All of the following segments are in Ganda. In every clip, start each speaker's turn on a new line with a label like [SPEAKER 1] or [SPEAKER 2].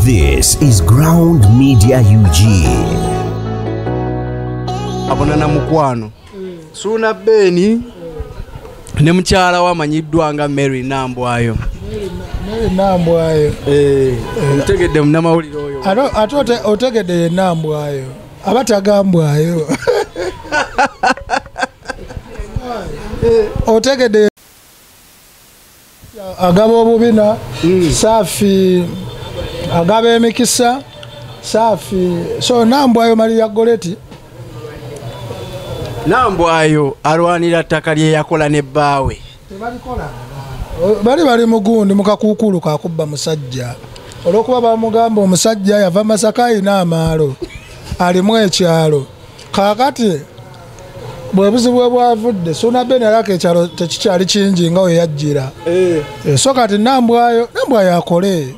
[SPEAKER 1] This is Ground Media UG.
[SPEAKER 2] Abona na mukwano. Mm. Suna Beni. Mm. Ne mchala wa manyiddwa nga Mary Nambwayo. Mary
[SPEAKER 3] Nambwayo. Eh. eh.
[SPEAKER 2] Mtegede mna mawuliro oyo. Ato ato te, otegede
[SPEAKER 3] Nambwayo. Abata gambwayo. Eh. Otegede agaba obubina hmm. safi agaba emikisa safi so nambwayo maria goleti
[SPEAKER 2] nambwayo alwanira ttaka lyeyakola ne bbaawe bali
[SPEAKER 3] bali mugundi mukakuukulu kakubba musajja olwokuba bamugamba omusajja yava masaka ayina amaalo alimu ekyalo kakati bwebuzibu webwavudde suna ben alaka ekyalo tekikyali kingi nga weyajjira eh. eh, so kati nambwayo nambwayo akole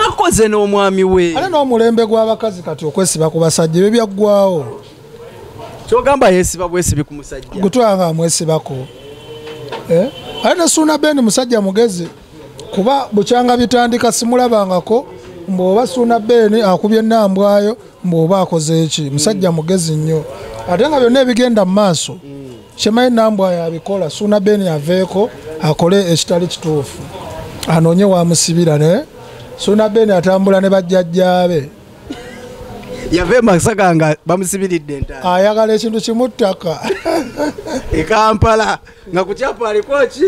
[SPEAKER 2] akoze n'omwami we ale n'omulembe gw'abakazi
[SPEAKER 3] kati okwesiba ku basajja ebyo byaggwawo
[SPEAKER 2] kyogamba yesiba bwesibi ku musajja gutwanga amwesibako
[SPEAKER 3] eh? ale ne suna ben musajja mugezi kuba bukyanga bitandika simulabangako mbu oba suuna beeni akubye nambwayo mbu oba akoze eki musajja mugezi nnyo ate nga byonna ebigenda mu maaso kyemanyi nambwayo abikola suuna beeni aveeko akole ekitali kituufu anoonye wamusibira naye suuna beeni atambula ne bajjajjaabe
[SPEAKER 2] yava emasaka nga bamusibiridde ayagala ekintu
[SPEAKER 3] kimuttaka
[SPEAKER 2] ekampala nga kukyapa aliko ki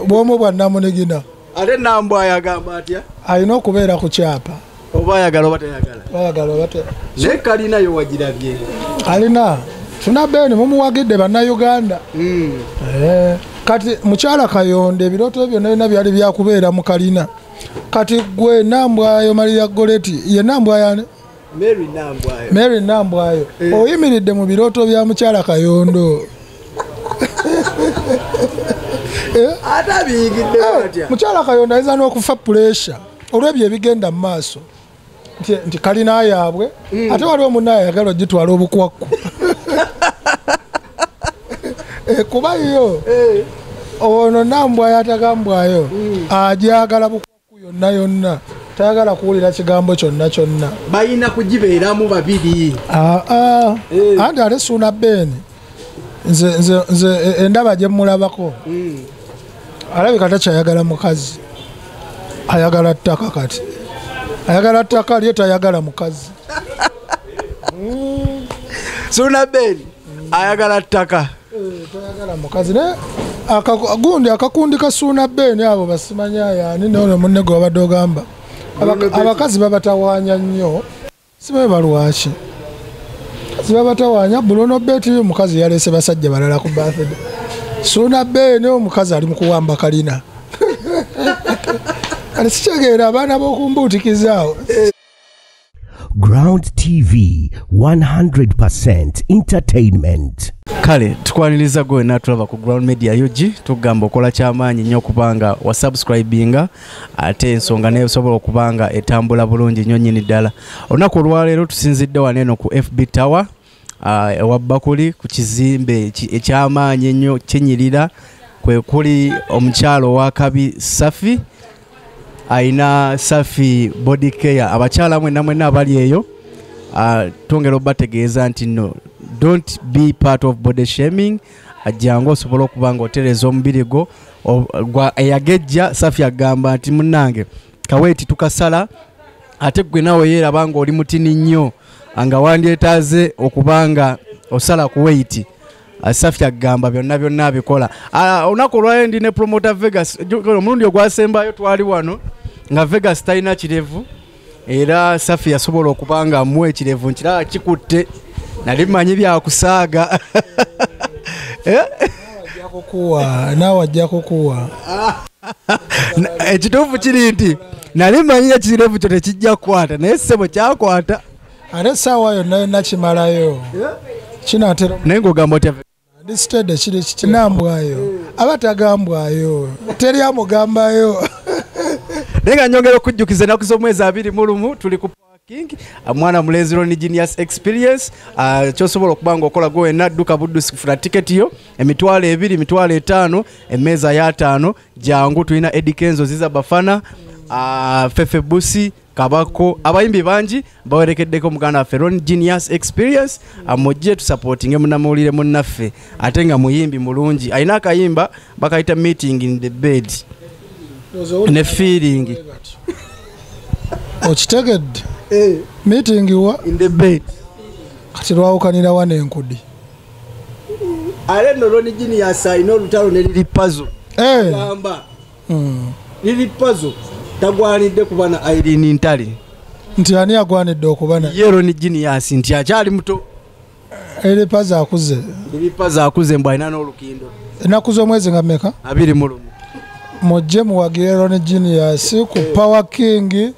[SPEAKER 2] bwomu bwa
[SPEAKER 3] namunigina ate nambwa
[SPEAKER 2] ayagamba atya alina okubeera ku
[SPEAKER 3] kyapa oba ayagala oba
[SPEAKER 2] tayagala ayagala oba naye kalina yo wagirabye alina
[SPEAKER 3] tuna beeni mumuwagidde bannayuganda hmm. eh, kati mukyala kayonda ebirooto byonna byonna byali byakubeera mu kalina kati gwe nambwayo maria goleti ye nambwayani mary nambwayo eh. oyimiridde mu birooto bya mukyala kayondo eh? eh, mukyala kayondo ayinza n'okufa puresha olw'ebyo ebigenda mu maaso nti kalina yaabwe hmm. ate waliwo munna ayagala ogitwala obukwakku kuba yo ono nambwayo atagambwayo hmm. ajagala bukwakku yonna yonna tayagala kuwulira kigambo kyonna kyonna balina kugibeeramu
[SPEAKER 2] babiri ah, ah.
[SPEAKER 3] Eh. anti ate suuna beeni nze e, endaba gye mmulabako hmm. alabika takyayagala mukazi ayagala ttaka kati ayagala ttaka lye tayagala mukazi
[SPEAKER 2] suuna beeni ayagala ttaka
[SPEAKER 3] gundi akakundi kasuuna beeni abo basimanya yani nono munne gwe wabadde ogamba abakazi babatawanya nnyo sibeba lwaki zibabatawanya bulono beti omukazi yalese basajja balala ku bathd suuna beeni omukazi ali mukuwamba kalina kati sikyegeera abaana bokumbuutikizaawo
[SPEAKER 1] Ground TV 100% entertainment. kale
[SPEAKER 2] tukwaniriza gwe wena tulaba ku ground media ug tugamba okola kyamaanyi nnyo okubanga wasubscribinga ate ensonga naye osobola okubanga etambula bulungi nnyo nyini ddala olunaku olwaleero tusinzidde waneeno ku fb tower Ah, ewa bakuli ku kizimbe ekyamaanyi ennyo kinyirira kwe kuli omukyalo owakabi safi alina safi body care abakyala mwena mwena abali eyo ah, twongera obategeeza nti no don't be part of body shaming ajjangu osobola okuba nga otereza omubiri gwo eyagejja safi agamba nti munange kaweti tukasala ate gwe nawe yeeraba nga oli mutini nnyo nga wandyetaaze okuba nga osala ku weiti safi agamba byonna byonna abikola ah, olunaku olwayo ndi ne promota vegas omulundi ogwasembayo twali wano nga vegas talina kirevu era safi yasobola okuba nga amuwa ekirevu nkiraba kikutte nali manyi byakusaaga eh?
[SPEAKER 3] naawe ajja kukuwa
[SPEAKER 2] ekituufu kiri nti nali manyi ekirevu kyo tekijja kukwata naye ssebo kyakwata ate essaawa
[SPEAKER 3] yonna yonna kimalayo kinatera naye ngaogamba otya
[SPEAKER 2] ndisitede kiri
[SPEAKER 3] kitinambwayo aba tagambwayo teri amugambayo
[SPEAKER 2] naye nga nyongera okujjukiza enaku z'omwezi abiri mu lumu tuli ku King uh, mwana mulenzi Ronnie Genius Experience uh, kyosobola okuba nga okola gwe wenna dduka buddusi kufuna tiketi yo emitwalo ebiri emitwalo etaano emmeeza y'ataano jangu tulina Eddie Kenzo Ziza Bafana uh, Fefe Busi kabako abayimbi bangi bawerekeddeko muganda waffe Ronnie Genius Experience uh, mujje tusapootinge munamawulire munnaffe ate nga muyimbi mulungi alina akayimba bakayita meeting in the bed ne feeling
[SPEAKER 3] okitegedde eh. meeting wa in the bed
[SPEAKER 2] kati
[SPEAKER 3] lwawukanira wa nenkudi
[SPEAKER 2] ale no loni jini yasaina olutalo ne lili pazo eh. gamba hmm. lili pazo tagwanidde kuba na irene ntale nti ani
[SPEAKER 3] agwanidde okuba na yero ni jini yasi
[SPEAKER 2] nti akyali muto eri
[SPEAKER 3] pazi akuze eri pazi akuze mbu
[SPEAKER 2] alina n'olukindo ennaku z'omwezi
[SPEAKER 3] nga meka abiri mu lumu
[SPEAKER 2] mujje
[SPEAKER 3] muwagire rone genius ku eh. power king eh.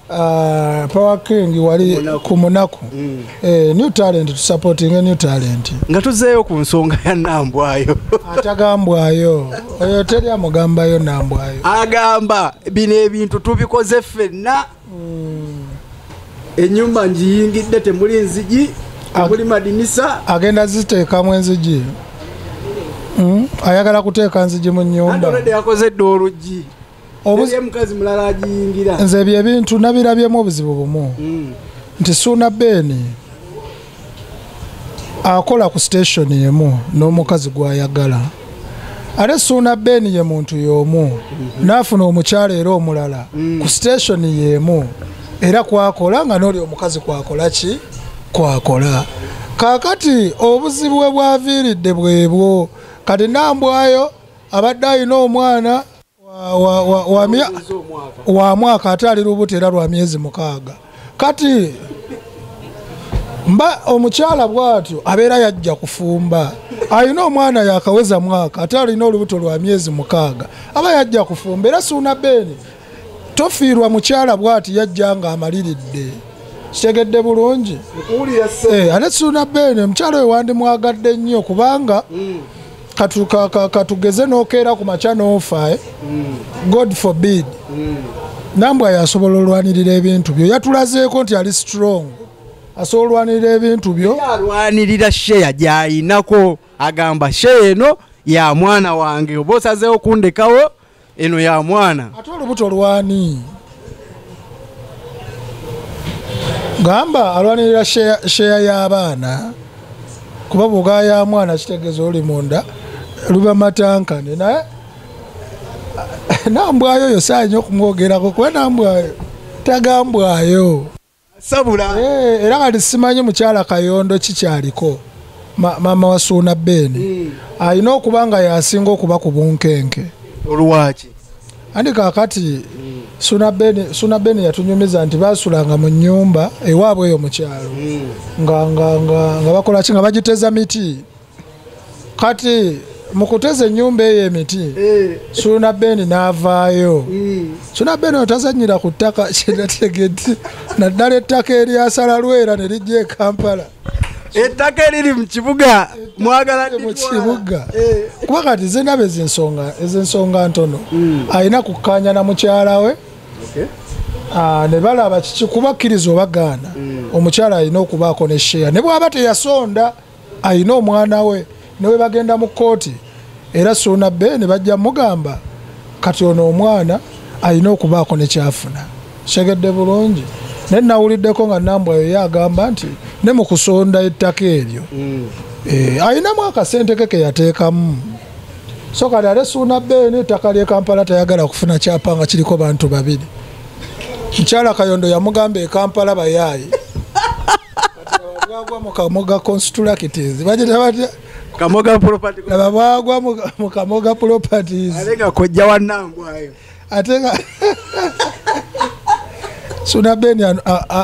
[SPEAKER 3] ah, power king wali ku munaku mm. eh, new talent to supporting a new talent nga tuzeeyo ku
[SPEAKER 2] nsonga ya nambwayo atagambwayo
[SPEAKER 3] oyo teri amugambayo nambwayo agamba
[SPEAKER 2] bino ebintu tubikoze ffenna enyumba njiyingidde temuli nzigi temuli madinisa agenda ziteekamu
[SPEAKER 3] enzigi hmm? ayagala kuteeka nzigi mu nyumbayakoze dda
[SPEAKER 2] oluggi omukazi mulala agiyingira nze ebyo ebintu
[SPEAKER 3] nabirabyemu obuzibu bumu hmm. nti suuna beeni akola ku station emu n'omukazi gwayagala ate suuna ben ye muntu y'omu mhm. n'afuna omukyala era omulala mm. ku station y'emu era kwakola nga n'oli omukazi kwakola ki kwakola kakati obuzibu bwe bwaviiridde bwebwo kati nambwayo abadde alina omwana wa mwaka ate ali lubuto era lwa myezi mukaaga kati mba omukyala bwatyo abeera yajja kufumba alina omwana yakaweza mwaka ate alina olubuto lwa myezi mukaaga aba yajja kufumba era suuna beeni tofiirwa mukyala bwati yajja nga amaliridde kitegedde bulungi eh, ate suuna beeni omukyala oyo wandimwagadde nnyo kubanga mm. katugeze nokeera ku makya nofa eh? mm. god forbid mm. nambwa yasobola olwanirira ebintu byo yatulazeeko nti ali strong asobola olwanirira ebintu byo alwanirira sheya
[SPEAKER 2] gyayinako agamba sheya eno ya mwana wange oba osazeewo kundekawo eno ya mwana ate olubuto lwani
[SPEAKER 3] gamba alwanirira sheya y'abaana kuba bwogaa ya mwana kitegeeza oli munda luba matankane naye nambwayo oyo saayinyo okumwogerako kuba nambwayo tagambwayo sabula
[SPEAKER 2] eh, era kati
[SPEAKER 3] simanyi mukyala kayondo kikyaliko maama wa suuna beeni hmm. alina okuba nga yasinga okuba ku bunkenke olwaki
[SPEAKER 2] andi
[SPEAKER 3] kakati hmm. suuna beeni yatunyumiza nti basulanga mu nyumba ewaabwe eyo mukyalo hmm. nga bakolaki nga bagiteza miti kati mukuteza enyumba eyo emiti eh. suna beni navaayo eh. suna beni otazanyira ku ttaka kyenategedde naddala ettaka eryasala lwera ne lijja ekampala ettaka
[SPEAKER 2] eriri mu kibuga mwagala mu kibuga
[SPEAKER 3] eh. kuba kati zenaba ezensonga ezensonga ntono hmm. alina kukkaanya na mukyala we Ah, ne balaba kiki kubakkiriza obagaana mm. omukyala alina okubaako ne sheya ne bwaba teyasonda alina omwana we newe bagenda mu kooti era suuna be ne bajja mugamba kati ono omwana alina okubaako nekyafuna kyegedde bulungi naye nawuliddeko nga nambwa yoyo agamba nti ne mu kusonda ettaka eryo mm. eh, alinamu akasente ke keyateekamu so kati ate suuna beeni ettaka ly'e kampala tayagala kufuna kyapa nga kiriko bantu babiri mukyala kayondo yamugamba e kampala bayaayi bwagwa mu kamoga constructors bagita batya kamoga property
[SPEAKER 2] laba bwagwa
[SPEAKER 3] mu kamoga properties ate nga kojja
[SPEAKER 2] wannangwayo ate nga
[SPEAKER 3] suna ben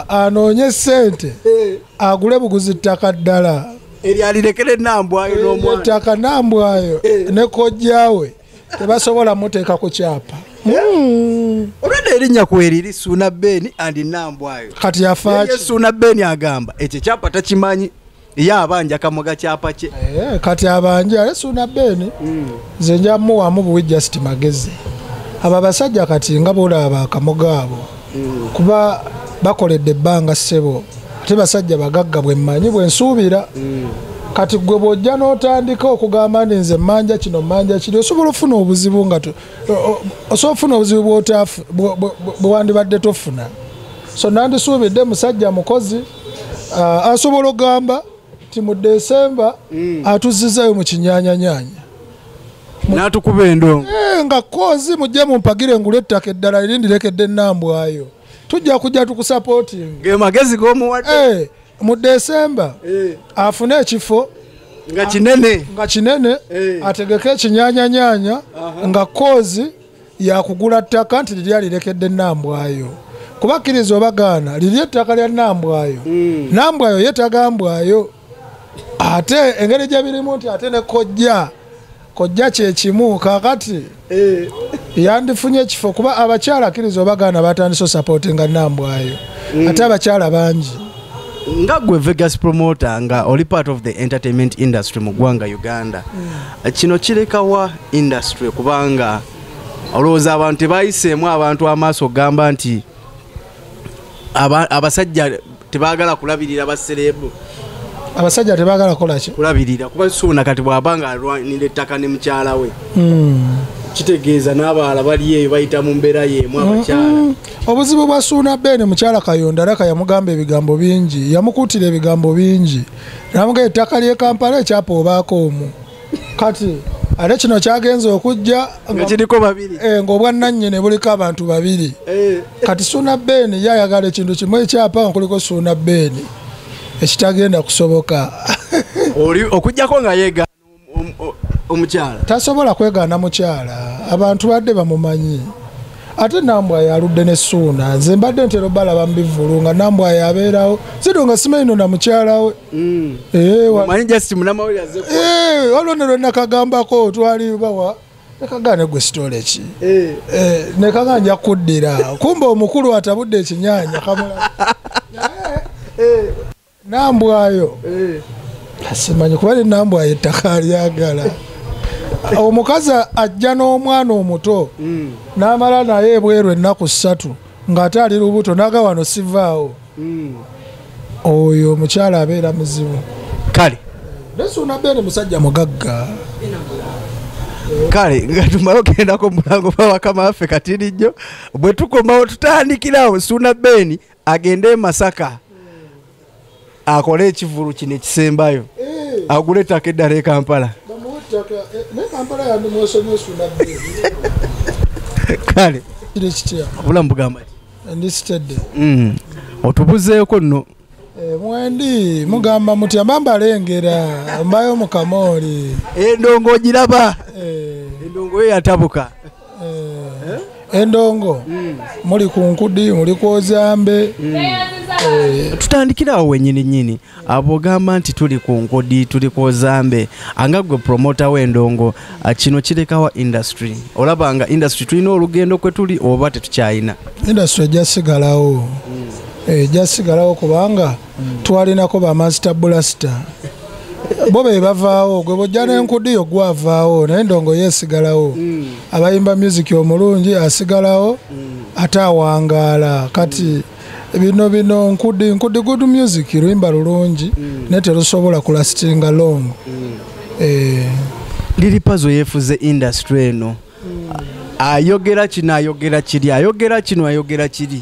[SPEAKER 3] anoonye sente eh. agule buguzi ttaka ddala eryalirekere
[SPEAKER 2] nambwayo ettaka nambwayo
[SPEAKER 3] eh. ne kojjawe tebasobola muteeka ku kyapa hmm.
[SPEAKER 2] olwedda erinnya kweriri suuna beeni andi nambwayo kati yafaaki
[SPEAKER 3] suuna beeni agamba
[SPEAKER 2] ekyo kyapa takimanyi ye abanja kamoga kyapa kye eh, kati abanja
[SPEAKER 3] ale suuna beeni hmm. nze njamuwamu buwi just magezi abo abasajja kati nga bolaba akamoga abo kuba bakoledde ebbanga ssebo ate basajja bagagga bwemmanyi bwensuubira kati gwe bwojja n'otandika okugamba nti nze manja kino manja kiri osobola ofuna obuzibu nga osobola ofuna obuzibu bwewandibadde tofuna so nandisuubidde musajja mukozi uh, asobola okugamba nti mu desemba mm. atuzizayo mu kinyanyanyanya
[SPEAKER 2] natukuba endongo eh, nga kozi
[SPEAKER 3] mujje mumpagire ngule ettaka eddala erindirekedde enambwayo tujja kujja tukusapoting gemagezi
[SPEAKER 2] gomuwadde eh, mu desemba
[SPEAKER 3] eh. afune ekifo nga kinene
[SPEAKER 2] nga kinene ategeke
[SPEAKER 3] ekinyanyanyanya nga kozi yakugula ttaka nti liri alirekedde enambwayo kubakkiriza obagaana liri ettaka lya nambwayo hmm. nambwayo yetagambwayo ate engeri gye birimu nti ate ne kojja kojja kyekimu kakati eh. yandifunye ekifo kuba abakyala akkiriza obagaana batandise osapoti nga nambwayo mm. ate abakyala bangi nga
[SPEAKER 2] gwe vegas promoter nga oli part of the entertainment industry mu ggwanga uganda mm. kino kirekawa industry kubanga olowooza abantu tebayiseemu abantu amaaso okugamba nti abasajja tebagala kulabirira baserebu abasajja
[SPEAKER 3] tebagala kolaki kulabirira kuba suuna
[SPEAKER 2] kati bwaba nga alwanira ettaka ne mukyala we hmm. kitegeeza n'abaala bali eyo bayita mu mbeera yeemu abakyala hmm. obuzibu bwa
[SPEAKER 3] suuna beene mukyala kayonda raka yamugamba ebigambo bingi yamukuutira ebigambo bingi namuga ettaka ly'e kampala ekyapa obaako omu kati ate kino kyagenza okujja ngakiriko babiri
[SPEAKER 2] eh, ngaobwannanyini buliko
[SPEAKER 3] abantu babiri eh. kati suuna beeni ye ayagala ekintu kimu ekyapa nga kuliko suuna beeni ekitagenda kusoboka
[SPEAKER 2] okujjako nga yegaana omukyala tasobola
[SPEAKER 3] kwegaana mukyala abantu badde bamumanyi ate nambwayo aludde ne suuna nze mbadde ntera obalaba mubivulu nga nambwayo abeerawo zido nga simanyi no namukyalawe mm. eh, eh, waliwo ne lwenakagambako twali bawa nekagane gwe sitole ki eh. nekaga nja kuddira kumba omukulu atabudde ekinyanya kamula nambwayo eh. simanyi kuba ne nambwayo ettaka alyagala omukazi ajja n'omwana omuto mm. n'amala naye ebweru ennaku ssatu ng'ate ali lubuto naga wano sivaawo mm. oyo omukyala abeera muzibu kale
[SPEAKER 2] nesuuna
[SPEAKER 3] beene musajja mugagga
[SPEAKER 2] kale nga tumala ogendako mulango bawakama waffe katini nnyo bwe tukomawo tutandikirawo suuna beeni agende emasaka akole ekivulu kino ekisembayo eh. agule ettaka eddala e kampala kale obulamu bugamba mm. otubuzeeko nno eh, mwendi
[SPEAKER 3] mugamba mutya mba mbalengera mbayo mukamooli endongo ogiraba
[SPEAKER 2] eh. endongo yo yatabuka eh, endongo
[SPEAKER 3] mm. muli ku nkudi muli kwozambe mm. eh. tutandikirawo
[SPEAKER 2] wenyini nyini abogamba nti tuli ku nkudi tuli kwozambe anga gwe promota wendongo ah, kino kirekawa industry olaba nga industry tulina olugendo kwe tuli oba tetukyayina industry
[SPEAKER 3] ejasigalawo mm. ejasigalawo eh, kubanga twalinako bamasita bulasita bo be bavaawo gwe bojja nenkudiyo gwavaawo naye ndongo yesigalawo mm. abayimba music omulungi asigalawo mm. ate awangaala kati mm. bino bino nkudi nkudi good music luyimba lulungi mm. naye terusobola kulasitinga long mm. eh.
[SPEAKER 2] liri pazo yefuze industry eno mm. ayogera kino ayogera kiri ayogera kino ayogera kiri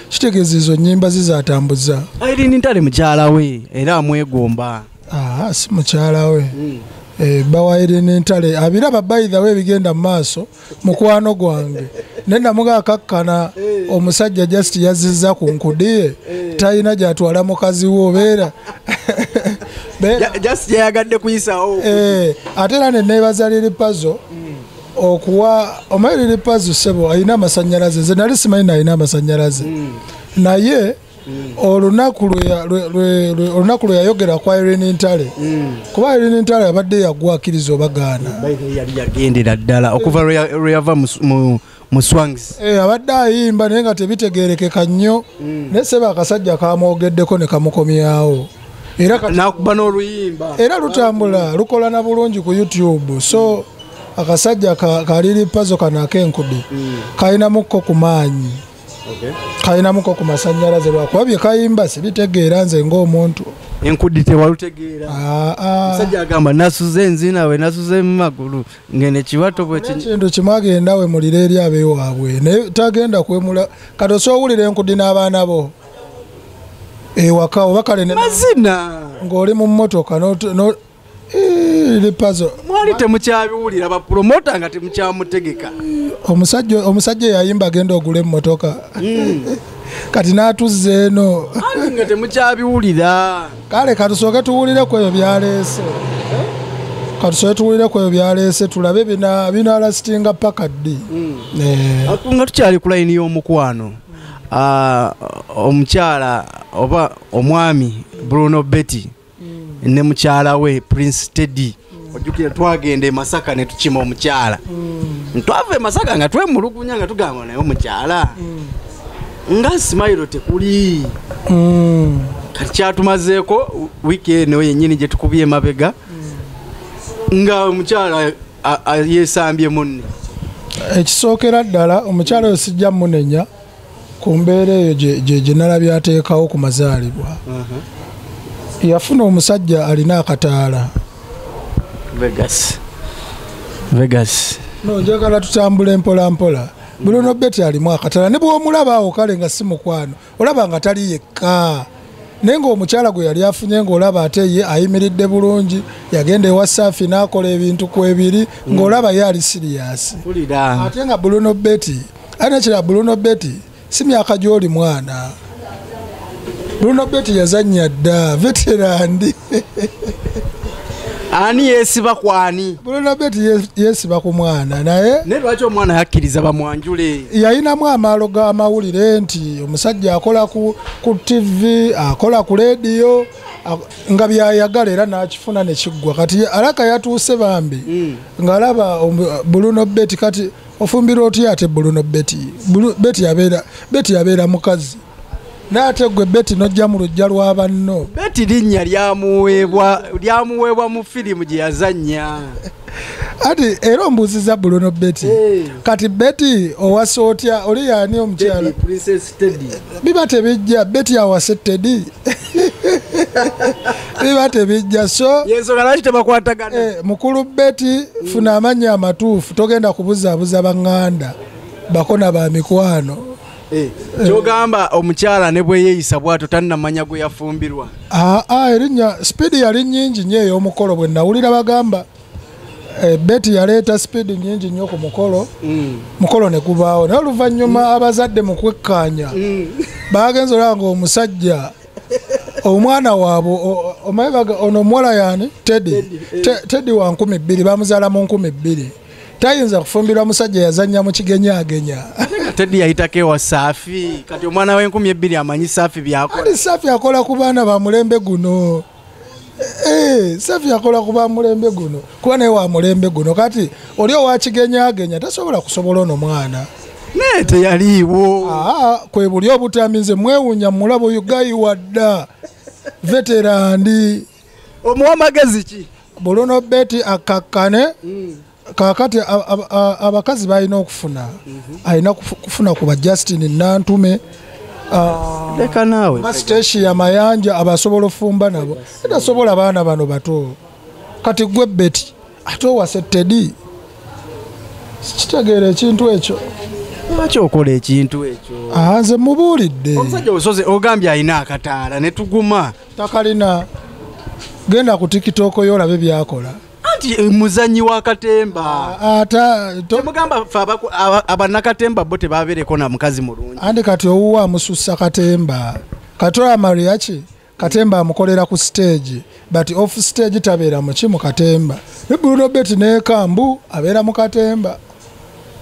[SPEAKER 3] kitegeeza ezo nyimba ze zatambuza irene ntale
[SPEAKER 2] mukyala we era amwegomba ah, si
[SPEAKER 3] mukyala we mm. Eh, bawaire nentale abiraba baithaw ebigenda mumaaso mukwano gwange nenamuga akakkana eh. omusajja just yaziza ku nkudiye eh. talina gyatwala mukazi we obeera
[SPEAKER 2] ate era
[SPEAKER 3] neneebazaliri pazo mm. okuwa omairiri pazi sebo alina amasanyalaze nze nali simanyi nalina amasanyalaze mm. naye mm. olunaku lwe yayogera kwa irini ntale mm. kuba irini ntale abadde yagwa akkiriza obagaana yagendera
[SPEAKER 2] ddala okuva lwe yava mu swangs eh, abadde ayimba
[SPEAKER 3] naye nga tebitegerekeka nnyo naye sebo akasajja kamwogeddeko ne kamukomyawo nakuba
[SPEAKER 2] n'oluyimba era lutambula
[SPEAKER 3] lukola na bulungi ku youtube so akasajja kaliri pazo kano akenkudi mm. kalinamukko ku maanyi kalinamuko ku masanyalaze lwakuba byekayimba sibitegeera nze ngaomuntu enkudi
[SPEAKER 2] tewalutegeera ah, ah. musajja agamba nasuze enzinawe nasuze mumagulu ngene kiwato bwekintu kimu agenda
[SPEAKER 3] wemulira eri abewaabwe naye tagenda kwemula kati osowulira enkudi n'abaana bo ewaka eh, oba kale mazina
[SPEAKER 2] ng'oli mu mmotoka
[SPEAKER 3] eh, lipazo mwali temukyabiwulira
[SPEAKER 2] bapulomota nga temukyamutegeka omusajja
[SPEAKER 3] omusajja eyayimba agenda ogula emmotoka hmm. kati n'atuzza eno nga
[SPEAKER 2] temukyabiwulira kale katusooke
[SPEAKER 3] tuwulire ku ebyo byaleese katusooke tuwulire ku ebyo byaleese tulabe binalasitinga paka ddi hmm. eh.
[SPEAKER 2] nga tukyali ku layini y'omukwano omukyala oba omwami bruno betty mm. ne mukyala we prince teddy mm. ojukira twagenda emasaka netukima omukyala mm. twava emasaka nga twemulugunya nga tugamba naye omukyala nga simayiro tekuli kati kyatumazeeko wiiki eno yenyini gyetukubye emabega nga omukyala yesambye munne ekisookera
[SPEAKER 3] ddala omukyala oyo sijja munenya ku mbeera eyo gyenala byateekawo ku mazaalibwa uh-huh. yafuna omusajja alina akataala vegas
[SPEAKER 2] vegas no njagala
[SPEAKER 3] tutambula empolampola buli ono beti alimu akatala ne bwomulaba awo kale nga si mukwano olaba nga tali yekka naye ngaomukyala gwe yali afunye ngaolaba ate ye ayimiridde bulungi yagenda ewa saafi n'akola ebintu ku ebiri mm. ngaolaba ye ali siriyasi ate nga buluno beti ate nekira buluno beti si myaka gy'oli mwana buluno beti yazannya dda veterandi
[SPEAKER 2] ani yesiba kwani bulona beti
[SPEAKER 3] yesiba ku mwana naye ne lwaki omwana yakkiriza
[SPEAKER 2] bamwanjule yayinamu amaalo
[SPEAKER 3] g'amawulire nti omusajja akola ku, ku tv akola ku leediyo nga byayagala era n'akifuna ne kiggwa kati alaka yatuuse bambi mm. ng'alaba buluno beti kati ofumbira otya ate buluno beti beti yabeera mukazi naate gwe beti nojja mu lujja lwa banno beti linnya
[SPEAKER 2] lyamuweebwa lyamuweebwa mu firimu gye yazannya ati
[SPEAKER 3] era ombuuziza bulono beti hey. kati beti owasa otya oli yaani omukyala biba tebijja beti awase tedi biba tebijja so eh,
[SPEAKER 2] mukulu beti
[SPEAKER 3] funa amannya amatuufu togenda kubuzaabuza baŋŋanda bakona ba mikwano Eh,
[SPEAKER 2] kyogamba omukyala ne bweyeyisa bwato tannamanya gwe yafumbirwa aa ah, ah, erinnya
[SPEAKER 3] sipiidi yali nyingi nyo ey'omukolo bwe nawulira bagamba eh, beti yaleeta sipiidi nyingi nnyo ku mukolo mm. mukolo ne gubaawo naye oluvannyuma mm. abazadde mu kwekkaanya mm. baagenza olaba nga omusajja omwana waabwe omaye ono omuwala yaani teddy eh. teddy wa nkumi bbiri bamuzaala mu nkumi bbiri tayinza kufumbirwa musajja yazanya mukigenyagenya tedi yayitako
[SPEAKER 2] ewa safi kati omwana wenkumi ebbiri amanyi safi byakola safi akola ku
[SPEAKER 3] baana bamulembe guno eh, safi akola ku bamulembe guno kuba naye wamulembe guno kati oli owakigenyagenya tasobola kusobola ono mwana naye
[SPEAKER 2] teyaliiwo ah, kwebuli
[SPEAKER 3] obutami nze mwewunya mulabo ugayiwadda veterandi
[SPEAKER 2] omuwa magezi ki buluno beti
[SPEAKER 3] akkakkane mm. kakati abakazi balina okufuna mhm. alina kufuna kuba justin nantume
[SPEAKER 2] leka naawe basiteshi ya mayanja
[SPEAKER 3] abasobola ofumba nabo etasobola baana bano bato kati gwe beti ate owase tedi kitegeera ekintu ekyo lwaki okola
[SPEAKER 2] ekintu ekyo ah, nze mubuulidde
[SPEAKER 3] omusajja osoze ogambye
[SPEAKER 2] alina akataala ne tuguma takalina
[SPEAKER 3] genda ku tiktok yo olabe byakola anti eh, muzanyi
[SPEAKER 2] wa katemba ah, ata temugamba fe abanakatemba bo tebabereko na mukazi mulungi andi kati owuwa
[SPEAKER 3] amususa katemba kati oyo amariaki katemba amukolera ku stage but off stage tabeera muki mu katemba ne brunobet nekambu abeera mu katemba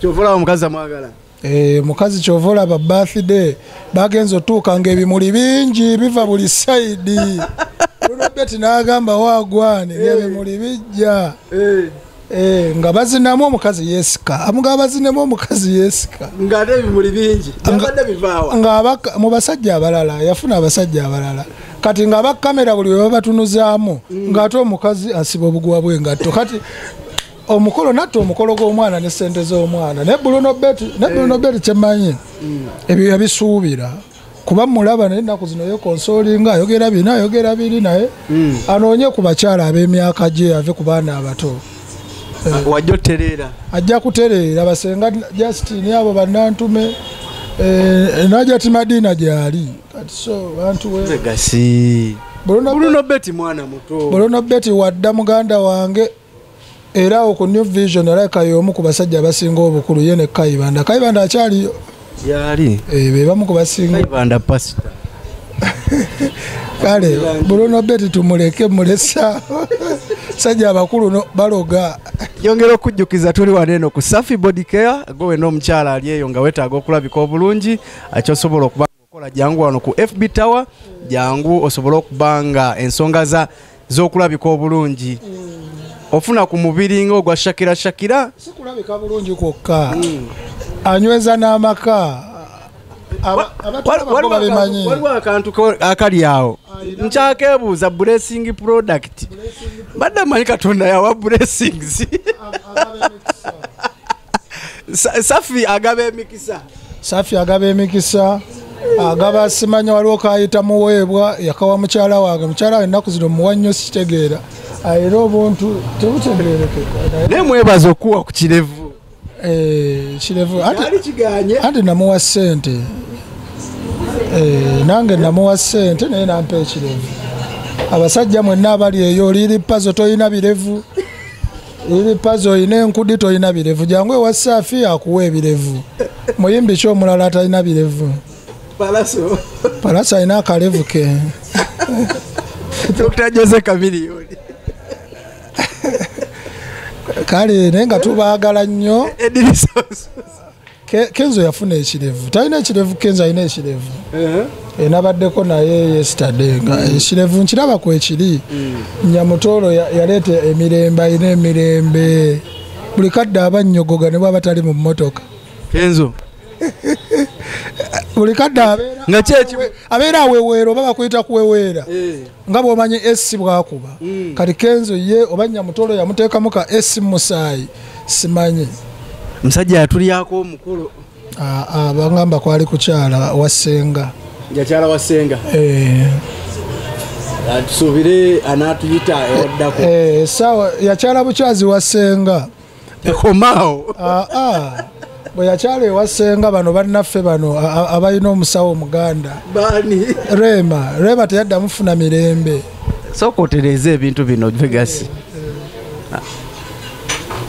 [SPEAKER 3] kyovola
[SPEAKER 2] omukazi amwagala E, mukazi
[SPEAKER 3] kyova olaba birthday bagenza otuuka nga ebimuli bingi biva buli saidi lulobeti nagamba wagwane eh. ebimuli bijja eh. Eh, nga bazinamu omukazi yesika nga bazinemu omukazi yesika
[SPEAKER 2] mu basajja
[SPEAKER 3] abalala yafuna abasajja abalala kati nga abakamera buli webabatunuzaamu mm. ngaate omukazi asiba obuguwa bwengatto kati omukolo natta omukolo gw'omwana ne sente z'omwana naye buluno beti naye buluno eh. beti kyemanyi mm. ebyo yabisuubira kuba mulaba naye ennaku zino yekonsolinga ayogera bina ayogera biri naye mm. anoonye ku bakyala ab'emyaka gye ave ku baana abato eh. ah,
[SPEAKER 2] wajja otereera ajja kutereera basenga
[SPEAKER 3] justini abo bannantume eh, naja ti madiina gyali kati so bantu wegasi
[SPEAKER 2] buluno beti mwana muto buluno beti wadda
[SPEAKER 3] muganda wange era awo ku new vision alabika y'omu ku basajja abasinga obukulu ye ne kayibanda kayibanda akyaliyo gyali
[SPEAKER 2] eh, be bamu ku
[SPEAKER 3] basinga kayibanda
[SPEAKER 2] pasita
[SPEAKER 3] kale bruno beti tumuleke mulesa sajja abakulu baloga yongera okujjukiza
[SPEAKER 2] tuli wano eno ku safi body care gwe wena omukyala ali eyo nga wetaaga okulabika obulungi akyosobola okuba kola jangu wano ku fb tower jangu osobole okuba nga ensonga za z'okulabika obulungi ofuna ku mubiri nga ogwa shakira shakira sikulabika
[SPEAKER 3] bulungi kwokka hmm. anyweza n'amaka
[SPEAKER 2] waliwo akantu akali awo nkyakebuuza blessing product badde manyi katonda yawa blessings safi agaba emikisa safi agaba emikisa agaba simanya waliwo kayita muweebwa yakawa mukyala wange mukyala wange ennaku zino muwa nnyo sikitegeera era obuntu tebutegeerekeka naye mwebaza okuwa ku kirevu eh, kirevu anti namuwa ssente eh, nange namuwa ssente naye nampa ekirevu abasajja mwenna abali eyo oliri pazo tolina birevu ebipazi olina enkudi tolina birevu jangu ewa safi akuwa ebirevu muyimbi ki omulala atalina birevu palaso alina akalevu ke kale
[SPEAKER 3] naye nga tubaagala nnyo kenzo yafuna ekirevu talina ekirevu kenzo alina ekirevu eh? eh, nabaddeko naye yesterday nga mm. ekirevu nkiraba kwekiri mm. nyamutoolo yaleeta emirembe alina emirembe buli kadde aba nnyogoga ne bwaba tali mu mmotoka kenzo buli kadde abeera aweweera oba bakuyita kuweweera eh. nga bwomanyi esi bwakuba mm. kati kenzo ye oba nyamutolo yamuteekamu ka esi mumusaayi simanyi musajja
[SPEAKER 2] yatulyako omukulu ah, ah, bangamba
[SPEAKER 3] kwali kukyala wasenga yakyala wasenga
[SPEAKER 2] eh. ah, tusubire anatuyita ewaddako eh, sawa
[SPEAKER 3] yakyala bukyazi wasenga ekomaawo
[SPEAKER 2] ah, ah. bwe yakyala ewasenga bano bannaffe bano abalina omusawo omuganda bani rema rema teyadda mufuna mirembe sooka otereeza ebintu bino vegasi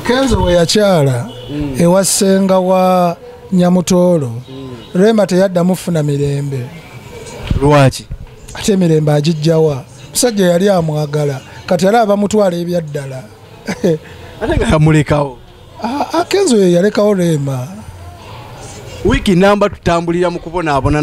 [SPEAKER 3] kenzo bwe yakyala mm. ewasenga wa nyamutoolo mm. rema teyadda mufuna mirembe lwaki
[SPEAKER 2] ate
[SPEAKER 3] emirembe agijjawa musajja yali amwagala kati yali abamutwala ebyaddala
[SPEAKER 2] ate nga yamulekawo akenzo ye yalekawo
[SPEAKER 3] reema wiiki namba
[SPEAKER 2] tutambulira
[SPEAKER 3] mu
[SPEAKER 2] kubonaabona